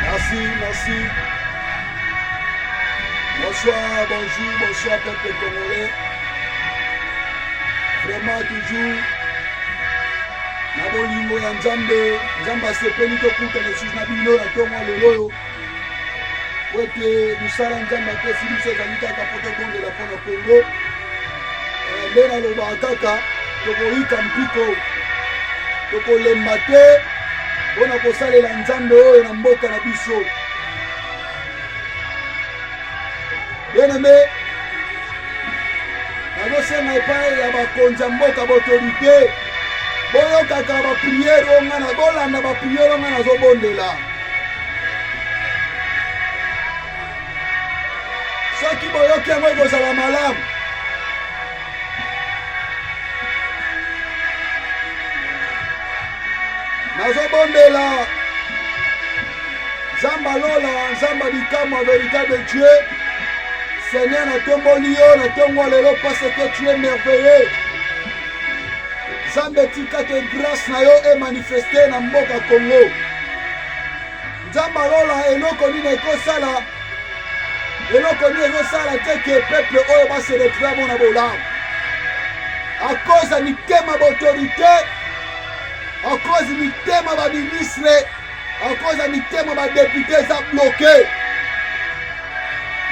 Merci, merci. Bonsoir, bonjour, bonsoir peuple congolais. Vraiment toujours na bolingo ya nzambe nzambe asepeli tokutana esusu na bino na ntongo ya lelo oyo mpo ete mosala nzambe apesi biso ezali kaka mpo tobondela mpo na kongo eh, nde nalobaka kaka tokoyika mpiko tokolemba te mpo na kosalela nzambe oyo na mboka na biso bieneme nazosenga epai ya bakonzi ya mboka baautorité boyokaka bapriere oyo ngai bolanda bapriere oyo ngai nazobondela soki boyoki yango ekozala malamu nazobondela nzamba lola nzamba bikamwa véritable dieu seigneur natomboli yo na ntongo lelo parce que tu es merveilleux Nzambe tika te grâce na yo e manifeste na mboka Congo. Nzambe alola eloko nini ekosala eloko nini ezosala te ke peuple oyo ba se retrouve yango na bolamu à cause ya mitema baautorité à cause mitema baministre En cause ya mitema ba depute eza bloke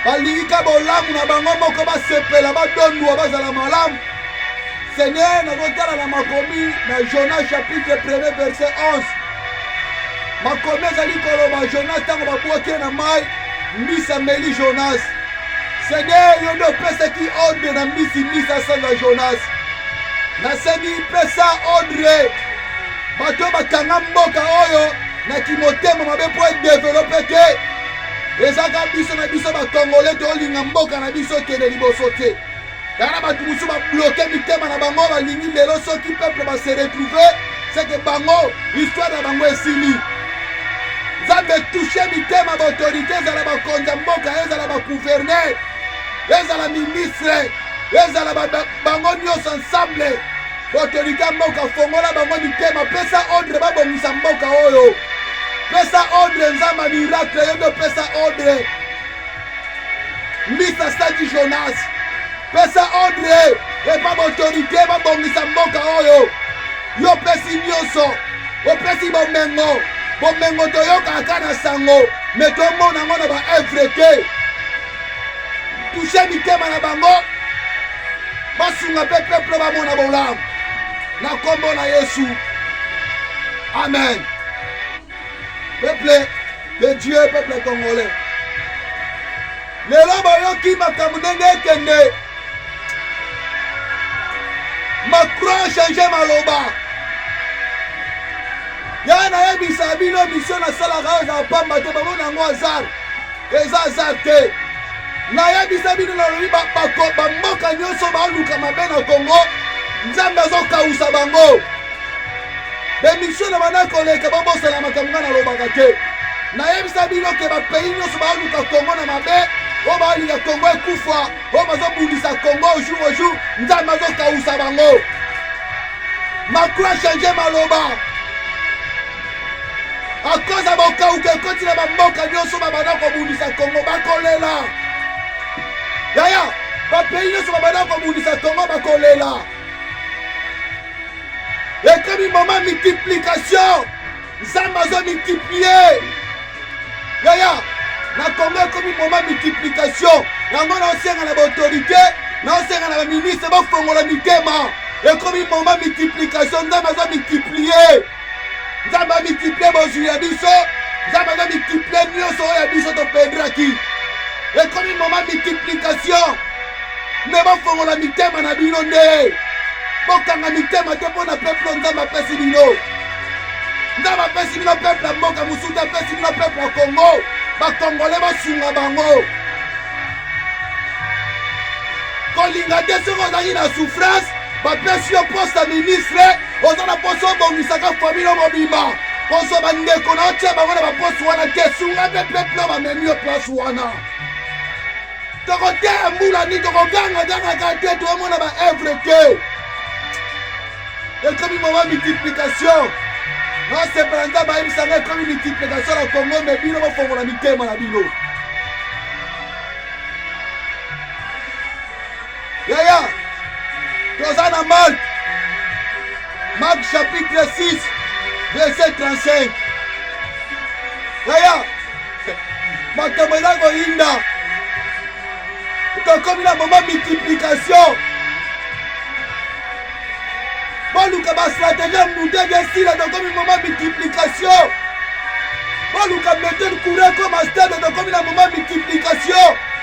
balingi ka bolamu na bango moko basepela badondwa bazala malamu seigneur nazotala na makomi na jonas chapitre 1 verset 11 makomi ezali koloba jonas ntango babwaki ye na mai mbisi ameli jonas seigneur yo nde opesaki ordre na mbisi mbisi asenga jonas nasengi pesa ordre bato oyo bakanga mboka oyo na kimotema mabe mpo edevelope te ezaka biso na biso bakongole tolinga mboka na biso ekende liboso te kaka na bato mosusu babloke mitema na bango balingi lelo soki peuple base retrouve seke bango histoire na bango esili nzambe touche mitema baautorité ezala bakonzi ya mboka ezala bagouverneur ezala ministre ezala bango nyonso ensemble Autorité mboka fongola bango mitema, pesa ordre babongisa mboka oyo. Pesa ordre nzamba miracle yo ndio pesa ordre. Misa Sadi Jonas pesa ordre epa baautorité babongisa mboka oyo. Yo pesi nyonso, opesi bomengo, bomengo toyokaka na sango, me tomona yango na baevre te. touche mitema na bango basunga mpe peuple bamona bolamu na nkombo na yesu amen peuple de dieu peuple congolais lelo bayoki makambo ndenge ekende macron change maloba ya nayebisa bino misio nasalaka oyo na pamba te bamona yango azar eza aza te nayebisa bino nalobi bamboka nyonso baluka mabe na kongo nzambe azokausa bango bemisio na banda koleka babosana makambo ngai nalobaka te nayebisa bino ke bapays nyonso baluka kongo na mabe oyo balinga kongo ekufa oyo bazobundisa kongo jour au jour nzambe azokausa bango macro change maloba akoza bokauka ekoti na bamboka nyonso babanda kobundisa kongo bakolela yaya bapei nyonso babanda kobundisa kongo bakolela ekomi moma multiplication nzambe azo multiplie yaya na kongo ekomi moma multiplication yango naosenga na baautorité naosenga na baministre bofongola mitema ekomi moma multiplication nzambe azo multiplie nzambe amultiplie bozwi ya biso nzambe aza multiplie nyonso oyo ya biso topendraki ekomi moma multiplication me bofongola mitema na bino nde bokanga mitema te mpo na peuple nzambe apesi bino nzambe apesi bino peuple ya mboka mosusu te apesi bino peuple ya congo bakongole basunga bango kolinga te soki ozalaki na souffrance bapesi yo poste ya ministre oza na poso obongisaka famille mobimba kozwa bandeko na otya bango na baposi wana te sunga mpe peuple bamemi yo place wana tokoteya mbula nini tokogangagangaka te toomona baevre te ekomi moma multiplication nasepela nza bayebisanga ekomi multiplication na kongo me bino bofongola mitema na bino Yaya, toza na Marc. Marc chapitre 6 verset 35. Yaya, makambo eza koyinda. Tokomi na moma multiplication. Boluka ba stratégie ya mutu esila tokomi moma multiplication. Boluka metode courant comme stade tokomi na moma multiplication.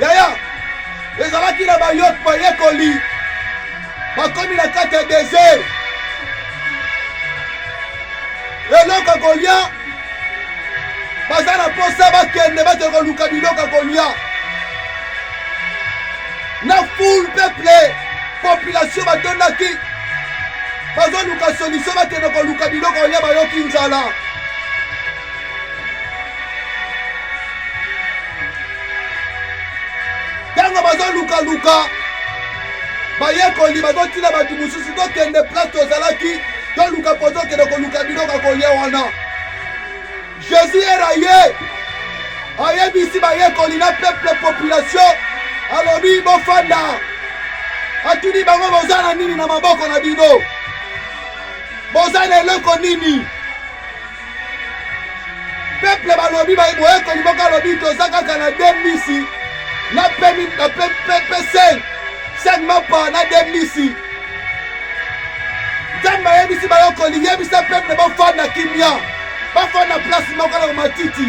Yaya, ezalaki na bayok bayekoli bakomi na kati ya desert, eloko kolia baza na mposa bakende bake koluka biloko kolia na foule peuple population batondaki bazoluka solution bakende koluka biloko kolia bayoki nzala ntango bazolukaluka bayekoli bazotina bato mosusu tokende place tozalaki toluka mpo tokende koluka biloko ya kolia wana jésus era ye ayebisi bayekoli na peuple population alobi bofanda atuni bango boza na nini na maboko na bino boza na eloko nini peple balobi boyekoli moko alobi toza kaka na de mbisi na pesen sen mapa na de mbisi nzambe ayebisi bayokoli yebisa peple bafanda kimia bafanda place moko na matiti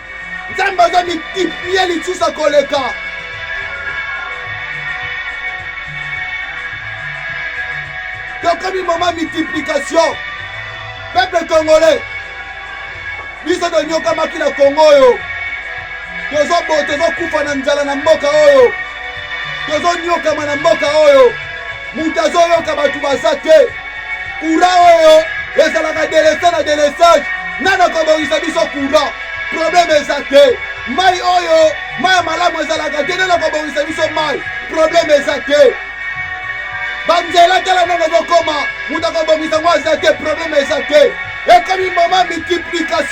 nzambe aza multiplier lisusu akoleka tokomi moma multiplication peuple congolais biso tonyokamaki na kongo oyo tozobo tozokufa na nzala na mboka oyo tozonyokama na mboka oyo moto azoyoka bato baza te kura oyo ezalaka delese na delesage nani akobongisa biso kura probleme eza te mai oyo mai ya malamu ezalaka te nani akobongisa biso mai probleme eza te banzela tala ndenge ezokoma moto akobongisa ngo aza te probleme eza te ekomi moma multiplication